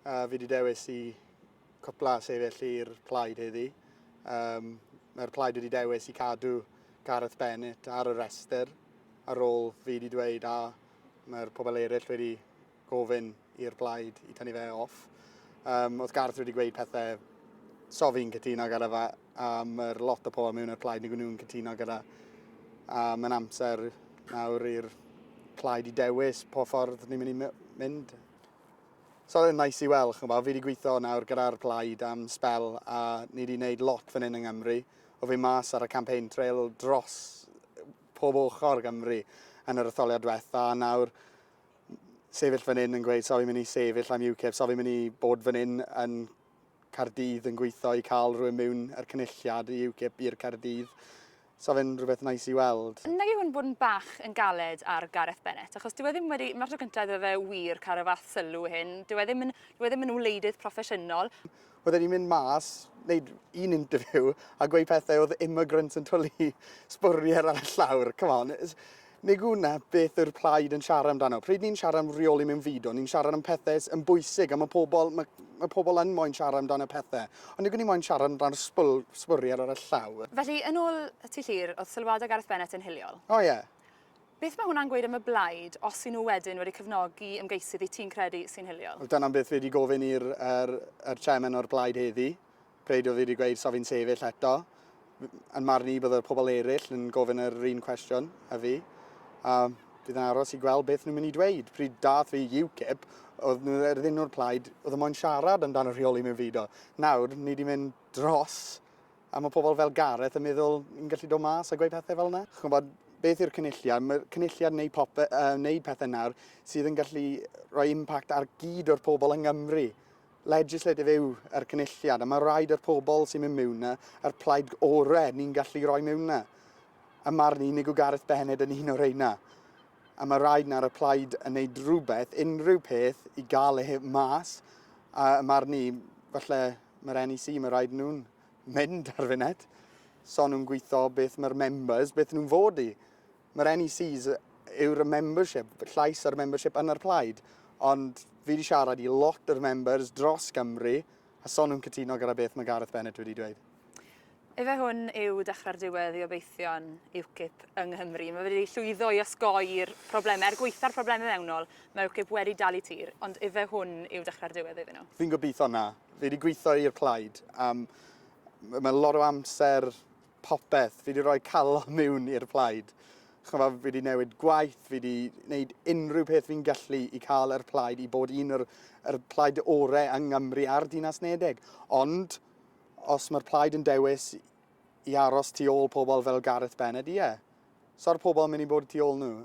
A fi wedi dewis i cwpla sefyll i'r plaid heddi. Um, Mae'r plaid wedi dewis i cadw Gareth Bennett ar y rhestr ar ôl fi wedi dweud a mae'r pobl eraill wedi gofyn i'r plaid i tynnu fe off. Um, oedd Gareth wedi gweud pethau so fi'n cytuno gyda fe a mae'r lot o pobl mewn i'r plaid nid nhw'n cytuno gyda a mae'n amser nawr i'r plaid i dewis po ffordd ni'n mynd i mynd. So oedd e'n neis i weld, ch'mod, fi wedi gweithio nawr gyda'r Plaid am sbel a ni wedi gwneud lot fan hyn yng Nghymru. Oedd fi mas ar y campaign trail dros pob ochr Gymru yn yr etholiad diwetha' a nawr sefyll fan hyn yn gweud 'so fi'n mynd i sefyll am UKIP, so fi'n mynd i bod fan hyn yn Caerdydd yn gweithio i cael rhywun miwn i'r Cynulliad i UKIP i'r Caerdydd'. 'Sa fe'n rhywbeth neis i weld. Nage hwn bod yn bach yn galed ar Gareth Bennett, achos dyw e ddim wedi... Mae'r tro cynta iddo fe wir cael y fath sylw hyn. Dyw e ddim yn... Dyw e ddim yn wleidydd proffesiynol. Oedd e wedi mynd mas, wneud un interview a gweud pethau oedd immigrants yn twli sbwriel ar y llawr. Come on. Nid dyna beth yw'r plaid yn siarad amdano. Pryd ni'n siarad am reoli mewn fideo, ni'n siarad am pethau sy yn bwysig a mae pobl, mae, mae pobl yn moyn siarad amdano pethau. Ond nid y'n ni moyn siarad amdano sbwl, sbwriel ar y llawr. Felly, yn ôl ti Llŷr, oedd sylwadau Gareth Bennett yn hiliol. O ie. Beth mae hwnna'n gweud am y blaid os y'n nhw wedyn wedi cefnogi ymgeisydd i ti'n credu sy'n hiliol? Wel dyna beth fi wedi gofyn i'r, yr, yr chairman o'r blaid heddi. Pryd oedd hi wedi gweud 'sa fi'n sefyll eto'? Yn marn i bydde'r pobl eraill yn gofyn yr un cwestiwn a fi, a bydd yn aros i gweld beth nhw'n mynd i dweud. Pryd daeth fi i UKIP, oedd nhw er ddim o'r plaid oedd yn moyn siarad amdano rheoli mewnfudo. Nawr, ni 'di mynd dros a mae pobl fel Gareth yn meddwl ni'n gallu dod mas a gweud pethau fel 'na. Chi'n gwybod, beth yw'r Cynulliad? Mae'r Cynulliad yn gwneud popeth, yy, wneud pethau nawr sydd yn gallu rhoi impact ar gyd o'r pobl yng Nghymru. legislatif yw yr Cynulliad a mae rhaid i'r pobl sy'n mynd mewn yna, yr plaid ore ni'n gallu rhoi mewn yna. Ym marn i, nid yw Gareth Bennett yn un o reina. A mae rhaid nawr y plaid yn neud rhywbeth, unrhyw peth, i gael e mas. A ym marn i, falle mae'r NEC, mae rhaid nhw'n mynd ar funud. So nhw'n gweithio beth mae'r members, beth nhw'n fod i. Mae'r NECs yw'r membership, llais a'r membership yn yr plaid, ond fi wedi siarad i lot o'r members dros Gymru a son nhw'n cytuno gyda beth mae Gareth Bennett wedi dweud. Efe hwn yw dechrau'r diwedd i obeithion UKIP yng Nghymru. Mae wedi llwyddo i osgoi'r problemau, er gweitha'r problemau mewnol, mae UKIP wedi dal i tir, ond efe hwn yw dechrau'r diwedd iddyn nhw. Fi'n gobeithio na. Fi wedi gweithio i'r plaid am, mae lot o amser popeth. Fi wedi rhoi calon mewn i'r plaid. Chyma, fi wedi newid gwaith, fi wedi gwneud unrhyw peth fi'n gallu i cael yr plaid i bod un o'r yr plaid orau yng Nghymru a'r Dinas Nedeg. Ond os mae'r plaid yn dewis i aros tu ôl pobl fel Gareth Bennett, ie. So'r pobl yn mynd i bod tu ôl nhw.